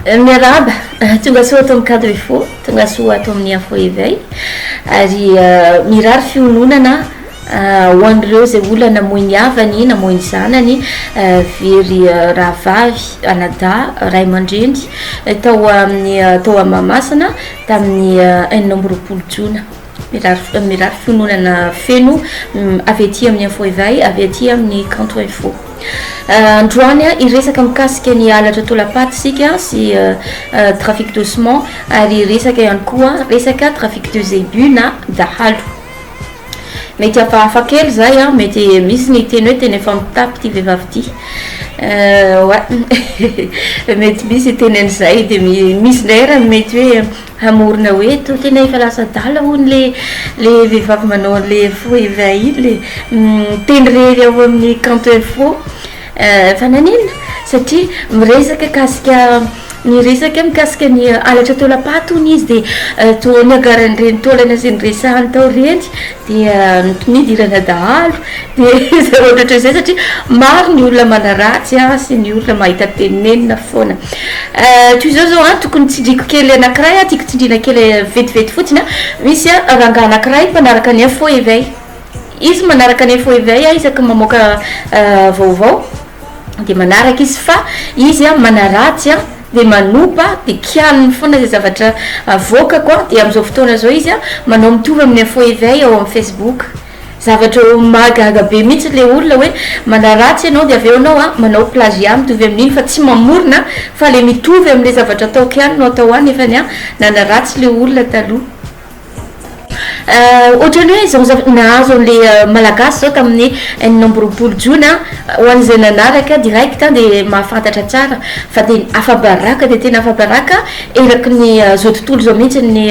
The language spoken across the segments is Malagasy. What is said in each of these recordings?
Euh, miarahaba euh, tonga soa ato amin'ny cadre fo tonga soa ato amin'ny info éveil ary euh, mirary fiononana ho an'ireo zay ola namoy ny havany namoy ny zanany very rahavavy anada ray aman-dreny tao amin'ny tao ammamasina tamin'ny enina amby roapolo jona Mirary mirary fiononana feno avy aty amin'ny info éveil avy aty amin'ny kanto info androany a hiresaka mikasika ny halatra tolapaty isika sy trafic de ciment ary hiresaka ihany koa resaka trafic de zébus na dahalo mety hafahafa kely zay a mety misy ny teny hoe teny efa mitapy ity vehivavy ity wa mety misy teny an'izay de misy indray raha mety hoe Hamorona hoe to tena efa lasa adala hono le le vehivavy manao anle faux evin iny miteny rery ao amin'ny kanto info fa nanina satria miresaka kasika niresaka mikasika ny halatra taolampaty hono izy dia toa niagaran'ireny taolana izay niresahany tao ireny dia ny mpimidy ilana dahalo dia izay ohatrohatry izay satria maro ny olona manaratsy an sy ny olona mahita tenenina foana eh, toy izao zao an tokony tsindriko kely anakiray an tiako tsindrina kely vetivety fotsiny an misy an rangah anakiray mpanaraka ny info éveil izy manaraka ny info éveil an isaky mamoaka eh, vaovao dia manaraka izy fa izy an manaratsy an dia manopa dia kialiny foana izay zavatra avoakako an dia amin'izao fotoana izao izy an manao mitovy amin'ny info eveil ao amin'ny facebook zavatra mahagaga be mihitsy ilay olona hoe manaratsy ianao dia avy eo ianao an manao plagiat mitovy amin'iny fa tsy mamorona fa ilay mitovy amin'ilay zavatra ataoko ihany no atao an nefa ny an nanaratsy ilay olona taloha Ohatran'ny hoe izao zavatra nahazo an'ilay Malagasy izao tamin'ny enina amby roapolo jona, ho an'izay nanaraka direct dia mahafantatra tsara fa tena afa-baraka dia tena afa-baraka eraky ny izao tontolo izao mihitsy ny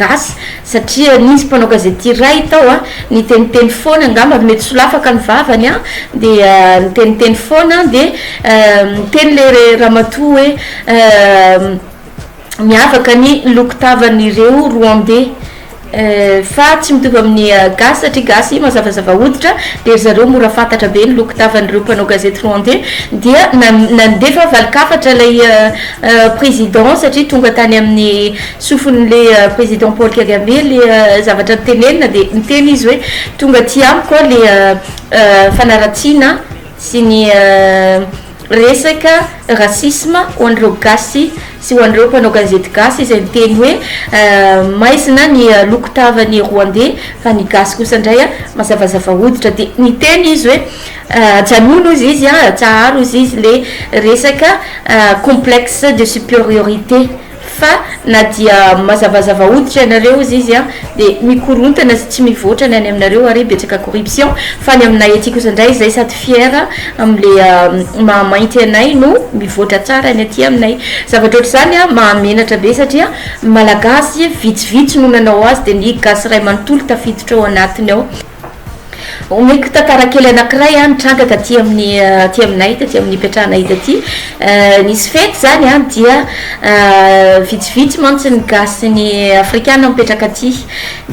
gasy satria nisy mpanao gazety iray tao an, niteniteny foana angamba mety solafaka ny vavany an, dia niteniteny foana dia niteny ilay ramatoa hoe Miavaka ny loko tavan'ireo Rwandais fa tsy mitovy amin'ny Gasy satria Gasy mazavazava hoditra dia ry zareo mora fantatra be ny loko tavan'ireo mpanao gazety Rwandais dia nandefa valin-kafatra ilay Président satria tonga tany amin'ny sofin'ilay Président Paul Kagame ilay zavatra notenenina dia niteny izy hoe tonga aty amiko aho ilay fanaratsiana sy ny Resaka racisme ho an'ireo gasy sy ho an'ireo mpanao gazety gasy izay miteny hoe maizina ny loko tavan'ny Rwandais fa ny gasy kosa indray mazavazava hoditra dia niteny izy hoe ajanony hozy izy an, atsaharo hozy izy ilay resaka complexe de superiorité. Fa na dia mazavazava hoditra ianareo ozy izy an, dia mikorontana sy tsy mivoatra ny any aminareo ary betsaka corruption, fa ny aminay aty kosa indray izay sady fier amin'le maha mainty anay no mivoatra tsara ny aty aminay. Zavatra ohatr'izany an mahamenatra be satria malagasy vitsivitsy no nanao azy dia ny gasy iray manontolo tafiditra ao anatiny ao. Omeko tantara kely anankiray an, nitranga taty amin'ny aty aminay taty amin'ny ipetrahanay taty nisy fety zany an dia vitsivitsy mantsy ny gasy sy ny afrikana mipetraka aty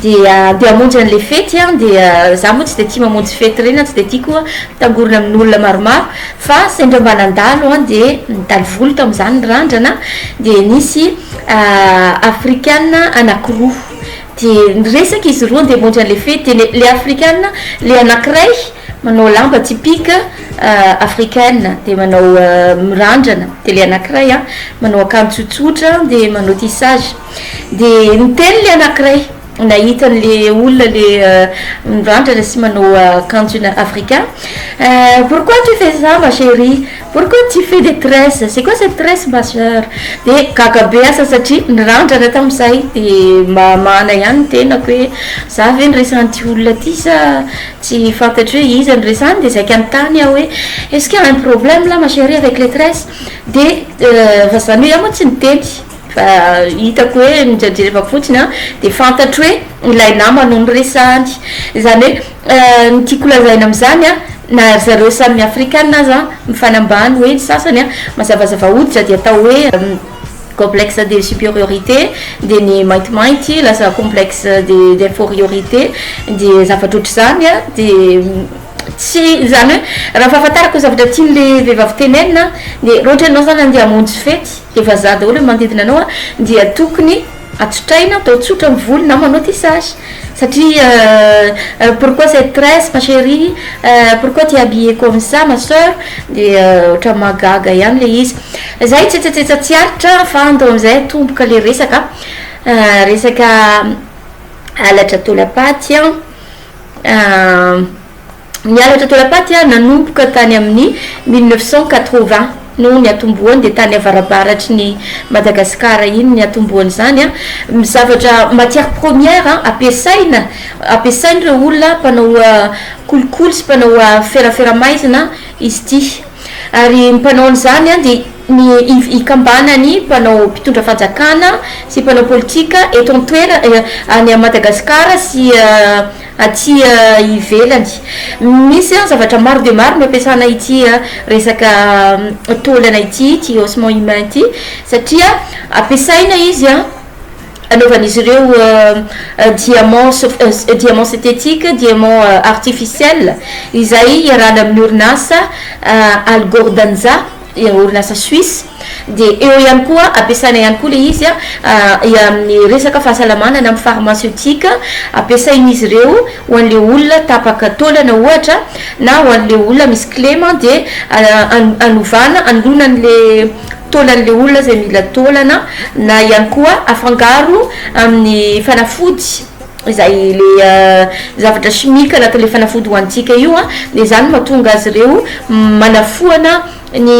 dia andeha hamonjy an'le fety an dia za moa tsy de tia mamonjy fety reny an tsy de tia koa mitangorona amin'olona maromaro fa sendra mba nandalo an dia nitaly vola tamin'izany ny randrana dia nisy afrikana anankiroa Dia niresaka izy roa ndeha hamonjy an'ilay fety, dia ilay afrikana, ilay anankiray manao lamba typique africaine dia manao mirandrana, dia ilay anankiray an, manao akanjo tsotsotra dia manao tissage, dia niteny ilay anankiray nahita an'ilay olona ilay mirandrana sy manao akanjo africain, eh pourquoi tu fais ça ma chérie, Pourquoi tu fais des tresses? C'est quoi cette tresse ma soeur? De gaga be asa satria nirandrana tamin'izay de mba hamahana ihany ny tenako hoe za ve no resan'ity olona ity sa tsy fantatro hoe iza no resany de zay ka nitany aho hoe est-ce qu'il y a un problème là ma chérie avec les tresses? De fa zany hoe iah moa tsy niteny Fa hitako hoe ny jerjerevako fotsiny an dia fantatro hoe ilay nama no noresahany. Izany hoe ny tiako lazaina amin'izany an, na ry zareo samy afrikana aza an, mifanambany hoe ny sasany an, mazavazava hoditra dia atao hoe complexe de superiorité, dia ny maintimainty lasa complexe de d'inforiorité, dia zavatra ohatr'izany an, dia tsy, izany hoe raha ny fahafantarako ny zavatra tian'ilay vehivavy tenenina an dia raha ohatra ianao izany andeha hamonjy fety, Dia vazaha daholo ny manodidina anao a, dia tokony atsotraina atao tsotra ny volo na manao tissage satria euh pourquoi cette tresse ma cherie euh pourquoi tu es habillée comme ça ma soeur dia ohatran'ny mahagaga ihany ilay izy. Zay tsetsatsetsa tsy aritra fa andao amin'izay atomboka ilay resaka a, resaka halatra taolam-paty a. Ny halatra toera-paty nanomboka tany amin'ny mille neuf cent quatre-vingts no niatombohany dia tany avarabaratry ny Madagasikara iny niatombohan'izany ny zavatra matière première ampiasaina ampiasain'ireo olona mpanao kolikoly sy mpanao ferafera maizina izy ity ary ny mpanao an'izany dia ny hikambana ny mpanao mpitondra fanjakana sy mpanao politika eto an-toerana any Madagasikara sy aty ivelany. Misy an zavatra maro dia maro no ampiasana ity resaka taolana ity, ity haussement humain ity, satria ampiasaina izy an anaovan'izy ireo diamant sof- diamant synthétique, diamant artificiel, izay iarahana amin'ny orinasa Algordanza. dia orinasa Suisse, dia eo ihany koa ampiasaina ihany koa ilay izy amin'ny resaka fahasalamana na amin'ny pharmaceutique, ampiasain'izy ireo ho an'ilay olona tapaka taolana ohatra na ho an'ilay olona misy kilema dia hanovana, hanoloana an'ilay taolan'ilay olona izay mila taolana na ihany koa afangaro amin'ny fanafody. izay le zavatra chimique anatin'ilay fanafody hohanintsika io an, dia izany no mahatonga azy ireo manafoana ny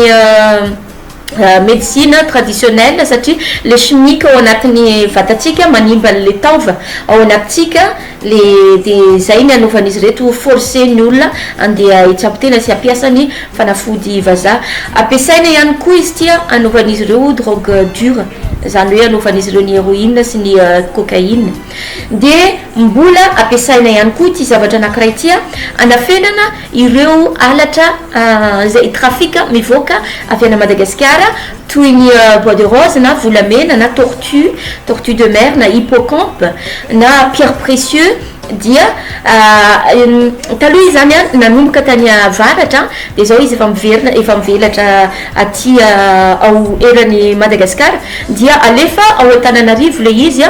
medecine traditionnelle satria le chimique ao anatin'ny vatantsika manimba an'ilay taova ao anatintsika le dia izay ny anaovan'izy ireto ho forcer ny olona andeha hitsabo tena sy hampiasa ny fanafody vazaha, ampiasaina ihany koa izy ity an anaovan'izy ireo drogue dure. izany hoe anaovan'izy ireo ny heroine sy ny cocaïne, dia mbola ampiasaina ihany koa ity zavatra anankiray ity hanafenana ireo halatra izay trafic mivoaka avy any Madagasikara toy ny bois de rose na volamena na tortue, tortue de mer na hippocampe na pierre précieux. Dia taloha izy izany nanomboka tany avaratra, dia izao izy efa miverina, efa mivelatra aty ao eran'i Madagasikara. Dia alefa ao Antananarivo ilay izy,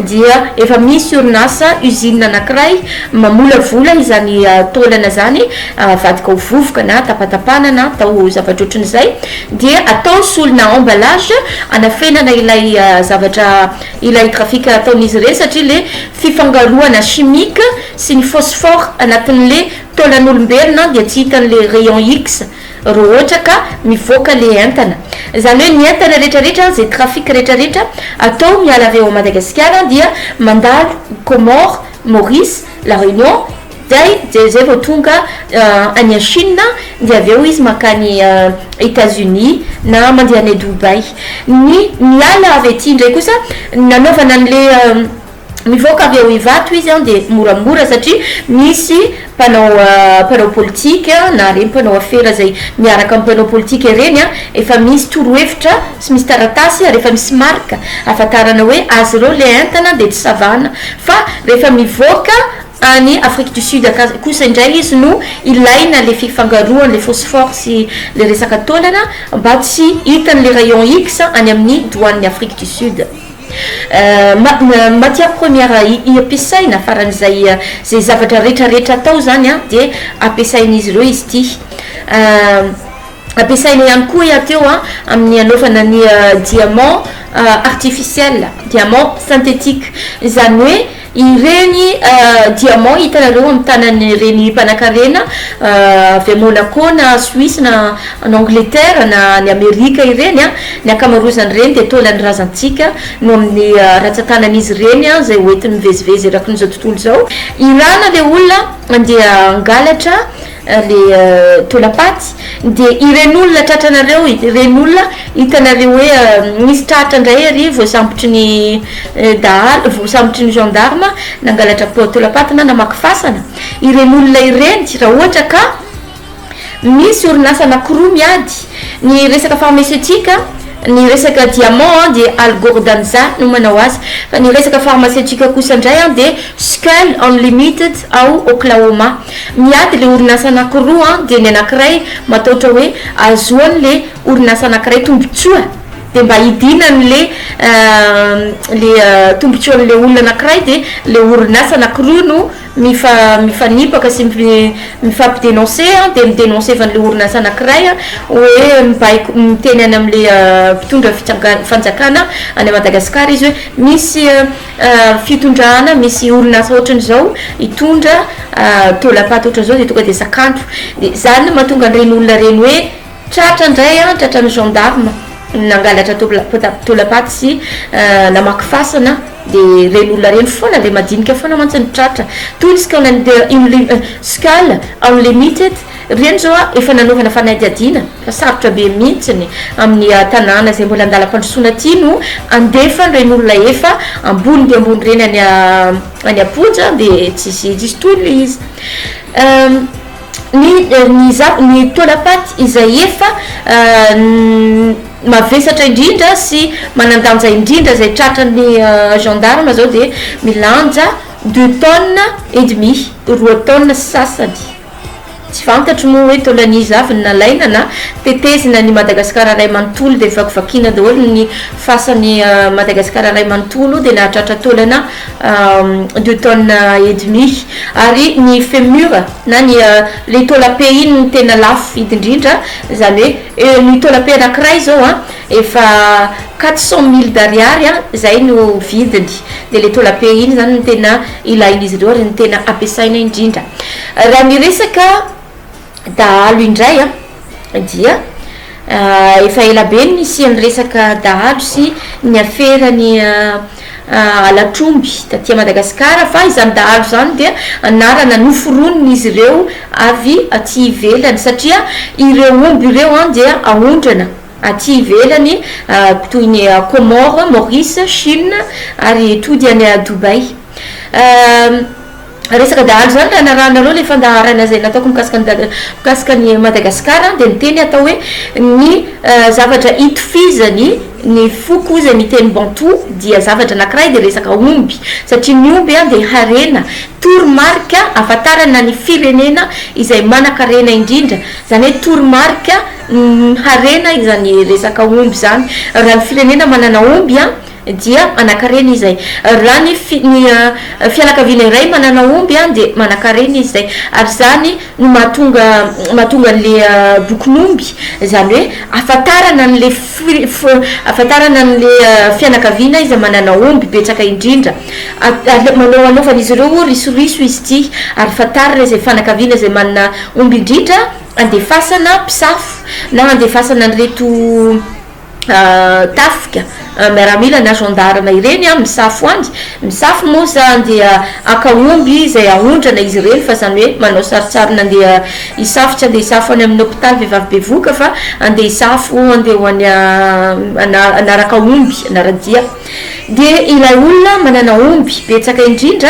dia efa misy orinasa, usine anankiray mamolavola izany taolana izany avadika ho vovoka na tapatapana na atao zavatra ohatran'izay. Dia atao solona, emballage, anafenana ilay zavatra ilay trafic ataon'izy ireny satria le fifangaroana chimique sy ny phosphore anatin'le taolan'olombelona dia tsy hitan'le rayon X ro ohatra ka mivoaka le entana zany hoe ny entana retraretra ze trafic retraretra atao miala avy ao Madagasikara dia mandalo Comores, Maurice, la Réunion, Zay jery zay vao tonga any a Chine dia avy eo izy mankany Etats Unis na mandeha any Dubai. Ny miala avy aty ndray kosa nanaovana anle mivoaka avy ao Ivato izy an dia moramora satria misy mpanao mpanao politika na reny mpanao afera zay miaraka am mpanao politika ireny an efa misy torohevitra sy misy taratasy ary efa misy marika ahafantarana hoe azy ireo le entana dia tsy savana fa rehefa mivoaka Any Afrique du Sud akasy kosa indray izy no ilaina le fifangaroan le phosphore sy le resaka taolana mba tsy hitan le rayon X any amin ny douane ny Afrique du Sud. Matière première iampiasaina farany izay ze zavatra retra retra atao zany an dia ampiasain izy ireo izy ity. Ampiasaina ihany koa iah teo an amin ny anaovana ny diamant artificiel, diamant synthetique izany hoe Ireny diamants hitanareo amin'ny tanan'ireny mpanankarena avy any Monaco na Suisse na any Angleterre na any Amerika ireny, ny ankamaroazan'ireny dia taolan'ny razantsika no amin'ny ratsan-tanan'izy ireny izay hoentiny mivezivezy erakin'izao tontolo izao. Irana ilay olona dia hangalatra. le taolam-paty de ireny olona tratranareo ireny olona hitanareo hoe misy tratra ndray ery voasambotry ny dahalo voasambotry ny gendarme nangalatra taolam-paty na namaky fasana ireny olona ireny raha ohatra ka misy orinasa anakiroa miady ny resaka pharmaceutique ny resaka diamant an de algordanza no manao azy fa ny resaka pharmaceutique kosa ndray an de skull unlimited ao oklahoma Miady le orinasa anakiroa an, de ny anakiray mataotra hoe azoany le orinasa anakiray tombotsoa de mba hidinany le le tombotsoan le olona anakiray de le orinasa anakiroa no mifa mifanipaka sy mifampi denonce an, de mi denonce van le orinasa anakiray an hoe mibaiko miteny any am le mpitondra fitsangan fanjakana any Madagasikara izy hoe misy fitondrana misy olona asa ohatrany zao hitondra taolampaty ohatrany zao de tonga de zakandro de zany no mahatonga an'ireny olona ireny hoe tratra indray an tratran'ny gendarme nangalatra taola- taolampaty sy namaky fasana de ireny olona ireny foana ilay madinika foana mantsy no tratra toy ny scout inle- scout unlimited ireny zao an efa nanaovana fanadihadiana Fa sarotra be mihintsiny amin'ny tanàna izay mbola an-dalam-pandrosoana ity no andefa ireny olona efa ambony dia ambony ireny any any am-ponja dia tsisy tsisy tolona izy. Ny ny zava- ny taolam-paty izay efa mavesatra indrindra sy manan-danja indrindra izay tratran'ny gendarmes izao dia milanja deux tonnes et demi, roa taonina sy sasany. Tsy fantatro moa hoe taolan'iza avy ny nalaina na tetezina ny Madagasikara iray manontolo dia vakivakiana daholo ny fasan'i Madagasikara iray manontolo dia nahatratra taolana deux tonnes et demi ary ny femur na ny ilay taolam-pe iny no tena lafo vidy indrindra izany hoe ny taolam-pe anankiray izao an Efa quatre cent mille d'ariary an zay no vidiny de le taola be iny zany no tena ilain'izy ireo ary no tena ampiasaina indrindra. Raha ny resaka dahalo indray an dia efa ela be ny nisian'ny resaka dahalo sy ny afera ny halatr'omby taty Madagasikara fa izany dahalo izany dia anarana noforonin'izy ireo avy aty ivelany satria ireo omby ireo an dia aondrana aty ivelany toy ny Comores, Maurice, Chine ary tody any Dubai. Resaka dahalo izany raha narahanareo ilay fandaharana izay nataoko mikasika ny mikasika an'i Madagasikara dia ny teny atao hoe ny zavatra itofizany ny foko izay miteny Bantou dia zavatra anankiray dia resaka omby satria ny omby dia harena toromarika ahafantarana ny firenena izay manankarena indrindra izany hoe toromarika Ny harena izany resaka omby izany, raha ny firenena manana omby an, dia manan-karena izy izay. Raha ny fi, ny fianakaviana iray manana omby an, dia manan-karena izy izay. Ary izany no mahatonga, mahatonga an'ilay bokin'omby, izany hoe ahafantarana an'ilay fi, fi, ahafantarana an'ilay fianakaviana izay manana omby betsaka indrindra. Ary manao, anaovan'izy ireo risoriso izy ity ary fantarina izay fanakaviana izay manana omby indrindra. handefasana mpisafo na handefasana an'ireto tafika miaramila na gendarme ireny an misafo any, misafo moa izany dia haka omby izay haondrana izy ireny fa izany hoe manao sarintsarina andeha hisafo, tsy andeha hisafo any amin'ny hopitaly vehivavy bevohoka fa andeha hisafo andeha ho any hanaraka omby hanara-dia. Dia ilay olona manana omby betsaka indrindra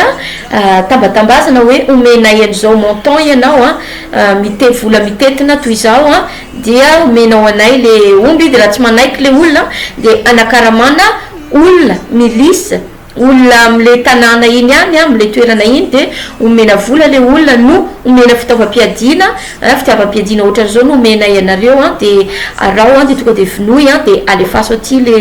tambatambazana hoe omenay an'izao montant ianao an, mite vola mitentina toy izao an, dia omenao anay le omby, dia raha tsy manaiky le olona dia anakaramana olona, milice, olona amle tanàna iny ihany an, amle toerana iny dia omena vola le olona no omena fitaovam-piadiana, An, fitiavam-piadiana ohatran'izao no omenay anareo an, dia araho an, dia tonga dia vonoy an, dia alefaso aty le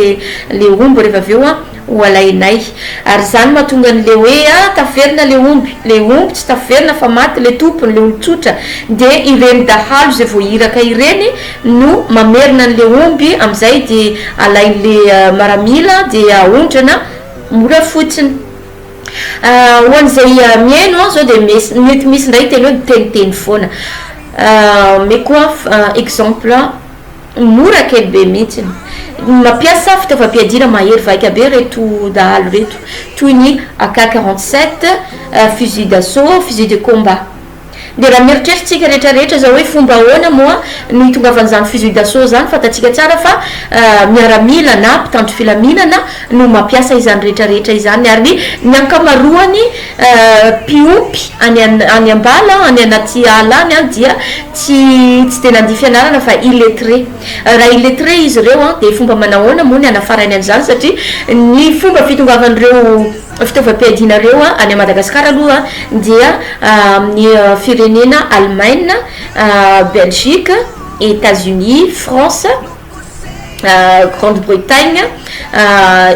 le omby rehefa avy eo an, ho alainay. Ary izany mahatonga an'le hoe an, taverina le omby, le omby tsy taverina fa maty le tompony, le olon-tsotra, dia ireny dahalo izay vao iraka ireny no mamerina an'le omby, amin'izay dia alain'le maramila dia aondrana mora fotsiny. Ho an'izay mihaino aho izao dia mety misy indray hiteny hoe miteniteny foana. Omeko exemple mora kely be mihitsy. Mampiasa fitaovam-piadiana mahery vaika be ireto dahalo ireto, toy ny AK 47, fusil d'assaut, fusil de combat. Dia raha mieritreritsika rehetra rehetra izao hoe fomba ahoana moa no hitongavan'izany fusil d'assaut izany, fantatsika tsara fa miaramila na mpitandro filaminana no mampiasa izany rehetra rehetra izany ary ny ankamaroany mpiompy any any ambala any anaty ala any an dia tsy tsy dia nandia fianarana fa illettré raha illettré izy ireo an dia fomba manahoana moa ny hanafarainy an'izany satria ny fomba fitongavan'ireo Fitaovam-piadianareo any Madagascar aloha dia amin'ny firenena Alemaina, Belgique, Etats Unis, France, Grande Bretagne,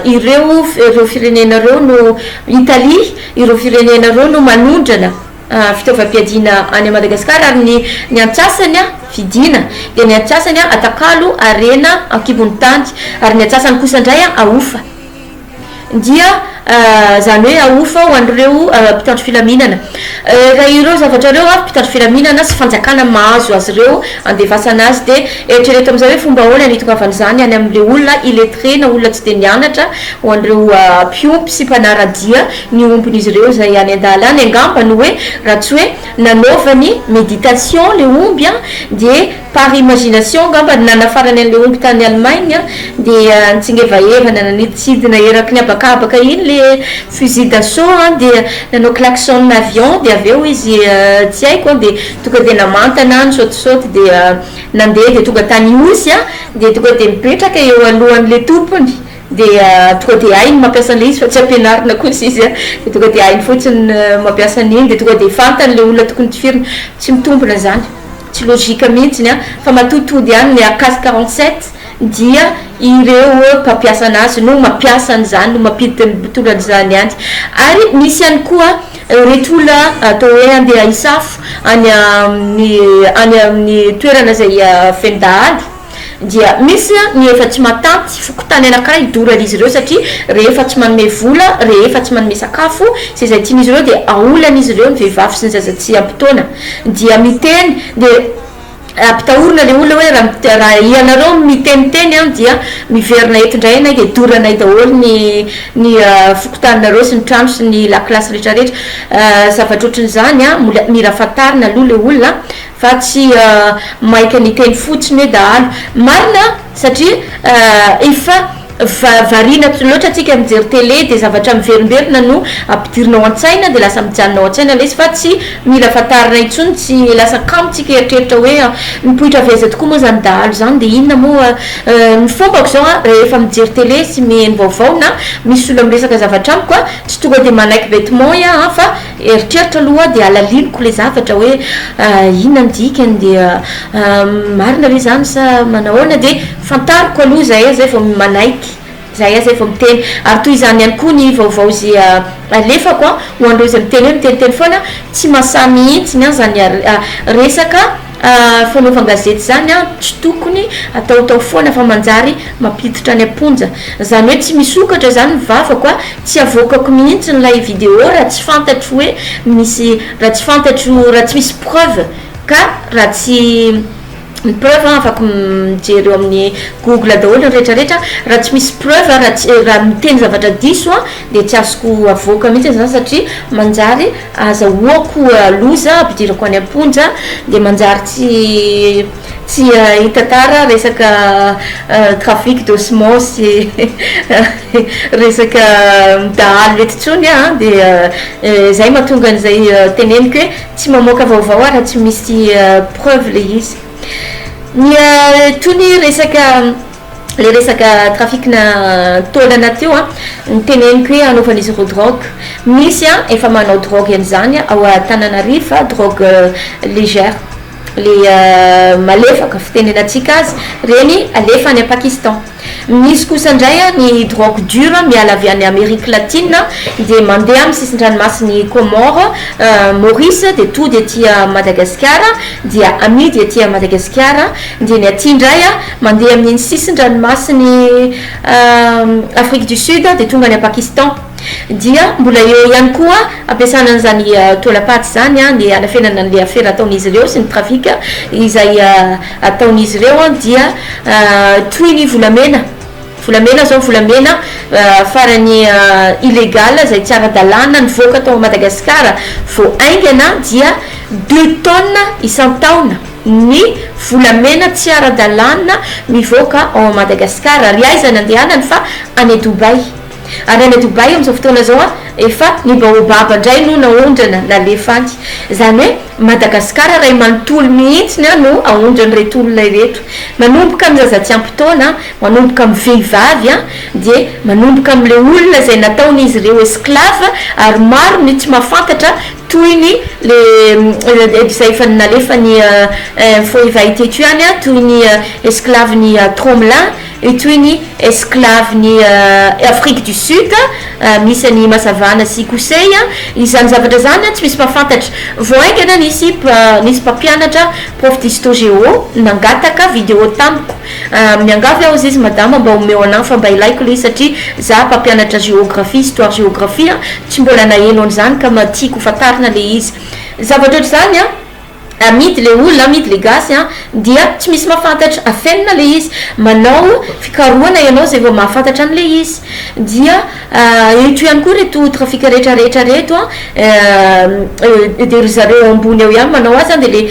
ireo ireo firenena ireo no Italie, ireo firenena ireo no manondrana fitaovam-piadiana any Madagascar ary ny ny antsasany vidiana dia ny antsasany atakalo harena ankibon'ny tany ary ny antsasany kosa indray ahofa. dia izany hoe ahofa ho an'ireo mpitandro filaminana. Raha ireo zavatra ireo avy, mpitandro filaminana sy fanjakana mahazo azy ireo handefasana azy dia eritrereto amin'izay hoe fomba ahoana ny hitongavan'izany any amin'ireo olona illettrés na olona tsy dia nianatra ho an'ireo mpiompy sy mpanara-dia ny ombin'izy ireo izay any an-dalana. Angamba no hoe raha tsy hoe nanaovany méditation ilay omby dia Par imagination angamba ny nanafarany an'ilay omby tany Allemagne dia nitsingevahevana nanidintsidina eraky ny habakabaka iny ilay fusil d'assaut dia nanao klaxon avion dia avy eo izy tsy haiko dia tonga dia namantana nisaotisaoty dia nandeha dia tonga tany Ihosy dia tonga dia mipetraka eo alohan'ilay tompony dia tonga dia hainy mampiasa an'ilay izy fa tsy ampianarina kosa izy dia tonga dia hainy fotsiny mampiasa an'iny dia tonga dia fantany ilay olona tokony tifirina. Tsy mitombina izany. Tsy logique mihitsy ny an! Fa matoa tody ihany ny cas quarante sept dia ireo mpampiasa anazy no mampiasa an'izany no mampiditra ny mpitondra an'izany ihany. Ary misy ihany koa ireto olona atao hoe handeha hisafo any amin'ny any amin'ny toerana izay feno dahalo. Dia misy ny efa tsy matanty, fokontany anankiray doran'izy ireo satria rehefa tsy manome vola, rehefa tsy manome sakafo sy izay tian'izy ireo dia aolan'izy ireo ny vehivavy sy ny zaza tsy ampy taona. Dia miteny dia ampitahorina ilay olona hoe raha raha ianareo miteniteny an dia miverina eto indray ianay dia doranay daholo ny ny fokontaninareo sy ny trano sy ny lakilasy rehetrarehetra. Zavatra ohatran'izany an, mbola mila fantarina aloha ilay olona. Fa tsy maika ny teny fotsiny hoe dahalo. Marina satria efa variana loatra antsika mijery tele dia zavatra miverimberina no ampidirina ao an-tsaina dia lasa mijanona ao an-tsaina ilay izy fa tsy mila fantarina intsony tsy lasa kamo tsika eritreritra hoe mipoitra avy aiza tokoa moa izany dahalo izany dia inona moa ny fombako izao an rehefa mijery tele sy miheno vaovao na misy olona miresaka zavatra amiko an tsy tonga dia manaiky betement ia an fa Eritreritra aloha hoa dia alaliniko ilay zavatra hoe inona ny dikany dia marina ve izany sa manahoana dia fantariko aloha izay aho izay vao manaiky izay aho izay vao miteny ary toy izany ihany koa ny vaovao izay alefako an ho an'ireo izay miteny hoe miteniteny foana tsy mahasahy mihintsiny an izany resaka Ah fanaovan-gazety zany an tsy tokony ataotao foana fa manjary mampiditra any am-ponja. Zany hoe tsy misokatra zany ny vavako a, tsy avoakako mihitsy ilay video raha tsy fantatro hoe misy, raha tsy fantatro, raha tsy misy preuve ka raha tsy ny preuve an afaka mijery eo amin'ny google daholo ny rehetra rehetra, raha tsy misy preuve a, raha tsy, raha miteny zavatra diso an de tsy azoko avoaka mihitsy zany satria manjary Azahoako loza, ampidirako any am-ponja, dia manjary tsy tsy hitantara resaka trafic de semence sy resaka dahalo eto intsony aho an, dia izay mahatonga an'izay teneniko hoe tsy mamoaka vaovao aho raha tsy misy preuve ilay izy. Ny itony resaka. le resaka trafic na taolana teo a, ny teneniko hoe anaovan'izy ireo drogue, misy a efa manao drogue an'izany ao Antananarivo fa drogue légère le malefaka fitenenantsika azy reny alefa any Pakistan, misy kosa indray a ny drogue dure miala avy any Amerique latine dia mandeha amin'ny sisin-dranomasin'i Comores, Maurice dia tody aty Madagasikara dia amidy aty Madagasikara dia ny aty indray a Mandeha amin'iny sisin-dranomasin'i Afrique du Sud dia tonga any Pakistan. Dia mbola eo ihany koa ampiasana an'izany taolam-paty izany ny hanafenana an'ilay afera ataon'izy ireo sy ny trafic izay ataon'izy ireo dia toy ny volamena, volamena izao, volamena farany illégal izay tsy ara-dalàna nivoaka tao Madagasikara vao haingana dia deux tonnes isan-taona. ny volamena tsy ara-dalàna mivoaka ao Madagascar ary aiza ny andehanany fa any Dubaï ary any Dubaï amin'izao fotoana izao an efa ny baobab indray no naondrana nalefa any izany hoe Madagascar iray manontolo mihitsy ny an no aondran'ireto olona ireto manomboka amin'ny zaza tsy ampy taona manomboka amin'ny vehivavy an dia manomboka amin'ilay olona izay nataon'izy ireo esclave ary maro ny tsy mahafantatra Tohiny le edy zay efa nalefa ny info efa hita eto ihany a, tohiny esclave ny tromla, io tohiny esclave ny afrique du sud, misy any masavana sy kosey a, izany zavatra zany a tsy misy mpafantatra, vao haingana nisy nisy mpampianatra prof d'histo géo nangataka video tamiko, Ah miangavy aho Zizy Madama mba omeo anah fa mba ilaiko le satria zah mpampianatra géographie, histoire géographie an, tsy mbola naheno an'izany ka mba tiako ho fantarina le izy. Zavatra ohatr'izany an, amidy le olona, amidy le gasy an, dia tsy misy mahafantatra, afenina le izy, manao fikarohana ianao zay vao mahafantatra an'le izy dia. Eto ihany koa reto trafic rehetra rehetra reto an eh, dia ry zareo ambony ao ihany manao azy an, dia le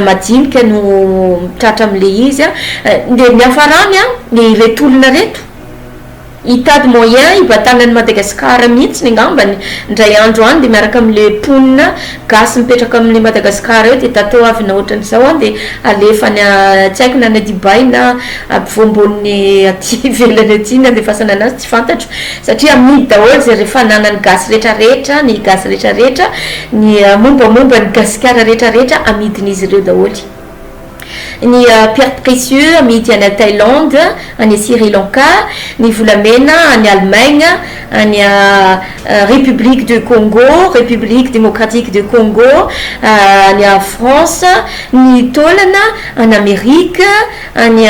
madinika no tratra amin'ilay izy an, dia ny hafarany an, dia ireto olona reto hitady moyen hibatana an'i Madagasikara mihitsiny angambany indray andro any dia miaraka amin'ilay mponina Gasy mipetraka amin'ny Madagascar eo dia tato avina ohatrany zao an dia alefa any a tsy haiko na any a Dubai na ampovoambonin'ny aty ivelany aty ny andefasana anazy tsy fantatro satria amidy daholo zay re fananan'ny gasy retraretra ny gasy retraretra ny mombamomba ny gasikara retraretra amidin'izy ireo daholo. ny pierres précieux amidy any Thaïlande, any Sri Lanka, ny volamena any Allemagne, any République de Congo, République démocratique de Congo, any France, ny taolana any Amerika, any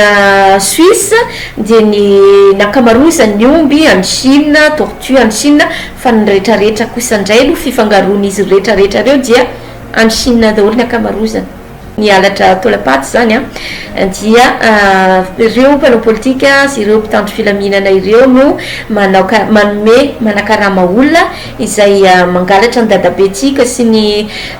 Suisse, dia ny ny ankamaroazan'ny omby any Chine, tortue any Chine, fa ny retraretra kosa indray aloha fifangaroan'izy retraretra ireo dia any Chine daholo ny ankamarozany. ny halatra taolam-paty izany dia ireo mpanao politika sy ireo mpitandro filaminana ireo no manaoka manome manakarama olona izay mangalatra ny dadabentsika sy ny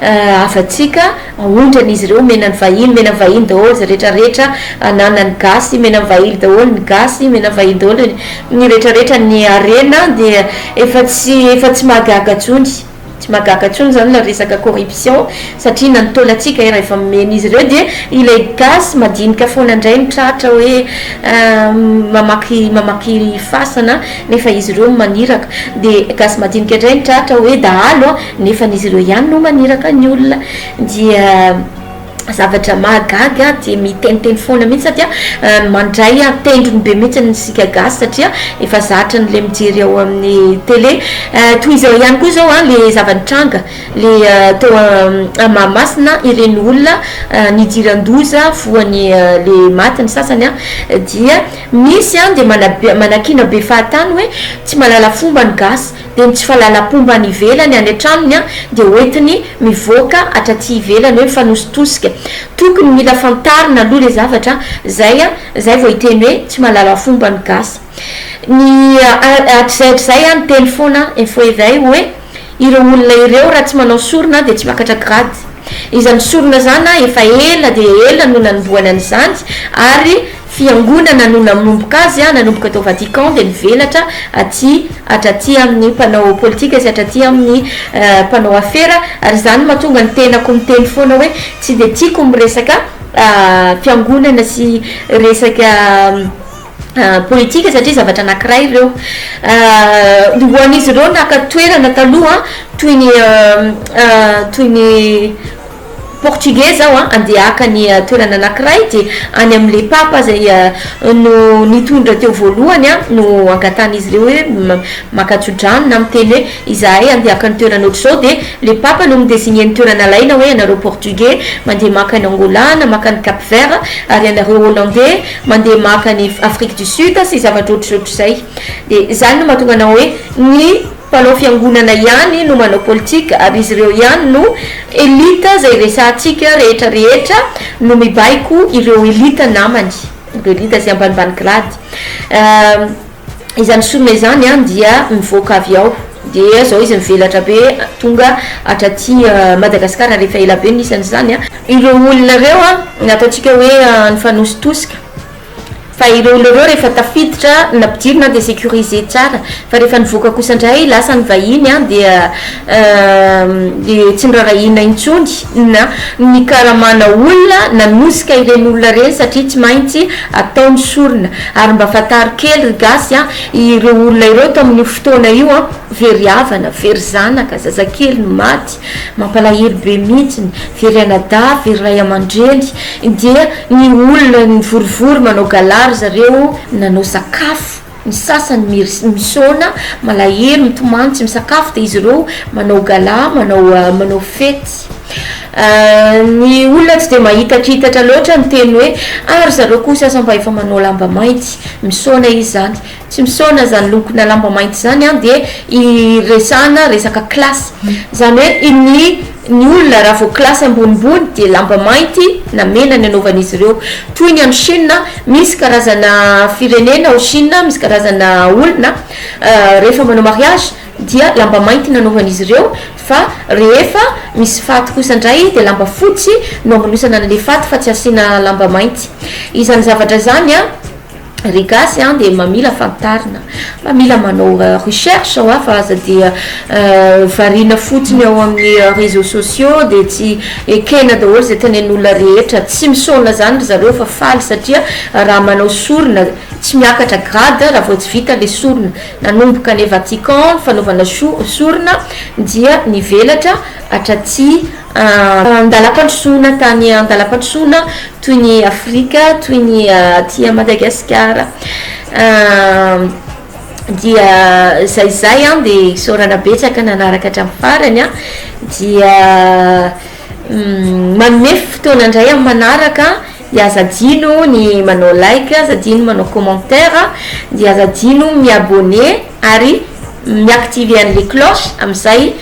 havantsika aondran'izy ireo omena ny vahiny omena ny vahiny daholo izay rehetra rehetra ananan'ny gasy omena ny vahily daholo ny gasy omena ny vahiny daholo ny rehetra rehetra ny harena dia efa tsy efa tsy mahagaga intsony Tsy mahagaga tsony zany le resaka corruption satria na ny taolantsika ery efa mimena izy ireo dia ilay gasy madinika foana indray no tratra hoe mamaky mamaky fasana nefa izy ireo no maniraka dia gasy madinika indray no tratra hoe dahalo a nefa izy ireo ihany no maniraka ny olona dia zavatra mahagaga aho dia miteniteny foana mihitsy satria mandray tendrony be mihitsy ny sika gasy satria efa zatra ny le mijery ao amin'ny tele toy izao ihany koa izao a le zava-nitranga le teo a mahamasina ireny olona nidiran-doza voany le maty ny sasany a dia misy a dia manabe manakiana be fahatany hoe tsy mahalala fomba ny gasy dia ny tsy fahalalam-pomba any ivelany any an-tranony dia hoentiny mivoaka hatraty ivelany hoe mifanositosika, tokony mila fantarina aloha le zavatra zay zay vao hiteny hoe tsy mahalala fomba ny gasy ny hatrizay hatrizay ny teny foana info eveil hoe ireo olona ireo raha tsy manao sorona dia tsy miakatra grade izany sorona zany efa ela dia ela no nanombohany an'izany ary Fiangonana no nanomboka azy, nanomboka tao Vatican dia nivelatra aty hatraty amin'ny mpanao politika sy hatraty amin'ny mpanao afera ary izany no mahatonga ny tenako miteny foana hoe tsy dia tiako ny resaka fiangonana sy resaka politika satria zavatra anankiray ireo. Ho an'izy ireo naka toerana taloha toy ny toy ny Portuguese aho an, andeha haka ny toerana anakiray de any amin le papa zay no nitondra teo voalohany an no angatahan izy ireo hoe maka tsodrano na miteny hoe izahay andeha haka ny toerana otrzao de le papa no mi designer ny toerana alaina hoe ianareo portugais mandeha maka any angola na maka any cap vert ary ianareo hollandais mandeha maka any afrique du sud sy zavatra otrzotrizay de zany no mahatonga anao hoe ny Mpanao fiangonana ihany no manao politika ary izy ireo ihany no elite izay resahantsika rehetra rehetra no mibaiko ireo elite namany ireo elite izay ambanimbany grady eh, izany sorona izany an dia mivoaka avy ao dia zao izy mivelatra be tonga hatraty eh, Madagascar ary efa ela be ny isan'izany an. Ireo olona ireo an ataontsika hoe nifanositosika. Fa ireo olona ireo rehefa tafiditra na mpidirina dia sécurisé tsara fa rehefa nivoaka kosa indray lasa ny vahiny dia tsy noraharahiana intsony na ny karamana olona nanosika ireny olona ireny satria tsy maintsy atao ny sorona. Ary mba fantaro kely ry gasy a, ireo olona ireo tamin'io fotoana io very havana, very zanaka, zazakely no maty. Mampalahelo be mintsy ny very anadahy very ray amandreny dia ny olona mivorivory manao gala ry zareo nanao sakafo ny sasany misaona malahelo mitomany tsy misakafo dia izy ireo manao gala manao manao fety ny olona tsy dia mahitakitatra loatra ny teny hoe ah ry zareo koa sasany mba efa manao lamba mainty misaona izy zany tsy misaona zany lokona lamba mainty zany an dia iresahana resaka classe zany hoe iny ny olona raha vao classe ambonimbony dia lamba mainty na mena ny anaovan'izy ireo toy ny any chine misy karazana firenena ao chine misy karazana olona rehefa manao mariage dia lamba mainty ny anaovan'izy ireo fa rehefa misy faty kosa indray dia lamba fotsy no amanosana an'ilay faty fa tsy asiana lamba mainty izany zavatra izany an Ry gasy an dia mamila fantarina, mamila manao recherche hoa fa aza dia variana fotsiny ao amin'ny réseaux sociaux dia tsy ekena daholo izay tenen'olona rehetra, tsy misaona izany ry zareo fa faly satria raha manao sorona tsy miakatra grade raha vao tsy vita ilay sorona, nanomboka any Vatican ny fanaovana sorona dia nivelatra hatraty An-dalam-pandrosoana tany an-dalam-pandrosoana toy ny Afrika, toy ny aty Madagasikara dia izay izay an dia isaorana betsaka nanaraka hatramin'ny farany an dia manome fotoana indray amin'ny manaraka dia aza adino ny manao like, aza adino ny manao commentaire dia aza adino ny mi-abonner ary mi-activer an'ilay cloche amin'izay